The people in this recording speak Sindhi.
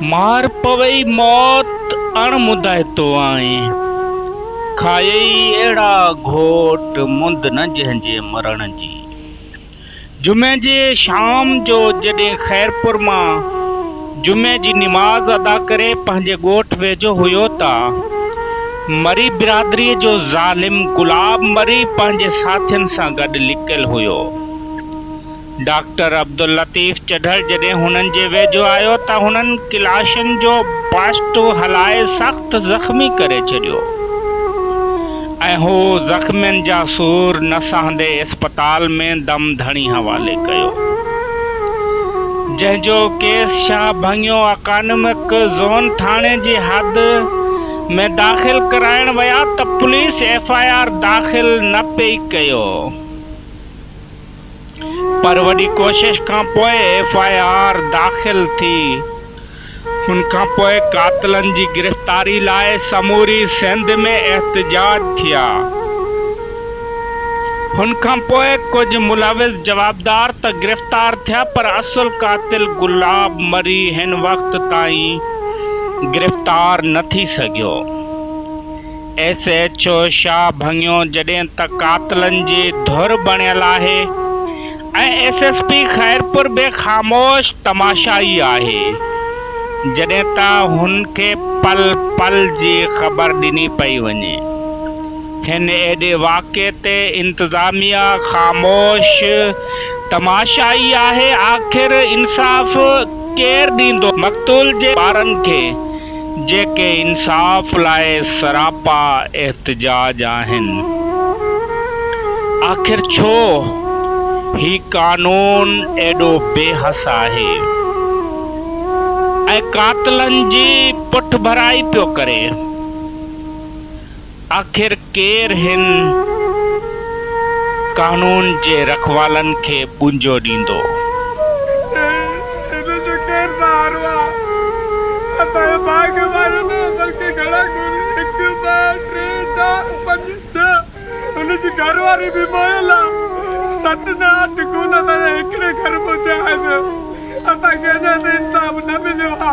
مار پوئي موت اڻ مدائتو آئين. کائيئي اهڙا گهوٽ مند نه جنهن جي مرڻ جي. جمعي جي شام جو جڏهن خيرپور مان جمعي جي نماز ادا ڪري پنهنجي ڳوٺ ويجهو هيو ته مري برادري جو ظالم گلاب مري پنهنجي ساٿين سان گڏ لڪيل هيو. ڊاڪٽر عبداللطيف چڍڙ جڏهن هنن جي ويجهو آيو ته هنن ڪلاشن جو باسٽو هلائي سخت زخمي ڪري ڇڏيو ۽ هو زخمين جا سور نه سهندي اسپتال ۾ دم ڌڻي حوالي ڪيو جنهن جو ڪيس شاهه ڀڱيو اڪانومڪ زون ٿاڻي جي حد ۾ داخل ڪرائڻ ويا ته پوليس ايف آء آر داخل نه پئي ڪيو. پر وڏي ڪوشش کان پوء ايف آء آر داخل ٿي ان کان پوء قاتلن جي گرفتاري لاء سموري سنڌ ۾ احتجاج ٿيا ان کان پوء ڪجهه ملوث جوابدار ته گرفتار ٿيا پر اصل قاتل گلاب مري هن وقت تائين گرفتار نه ٿي سگهيو. ايس ايڇ او شاهه ڀڱيو جڏهن ته قاتلن جي ڌر بڻيل آهي ۽ ايس ايس پي خيرپور به خاموش تماشائي آهي جڏهن ته هن کي پل پل جي خبر ڏني پئي وڃي هن ايڏي واقعي تي انتظاميا خاموش تماشائي آهي آخر انصاف ڪير ڏيندو مقتول جي ٻارن کي جيڪي انصاف لاء سراپا احتجاج آهن. آخر ڇو هي قانون ايڏو بي حس آهي ۽ قاتلن جي پٺڀرائي پيو ڪري. آخر ڪير هن قانون جي رکوالن کي ٻونجو ڏيندو؟ هن جو ڪير سهارو آ؟ اسان جو ڀاڳ ماريو نه بلڪه گهڻا گهر هڪ ٻه ٽي چار پنج ڇهه هن جي گهر واري به موئل آ ست نه اٺ خون اسان جا هڪڙي گهر مان ٿيا آهن اسان کي اڃا تائين انصاف نه مليو آ.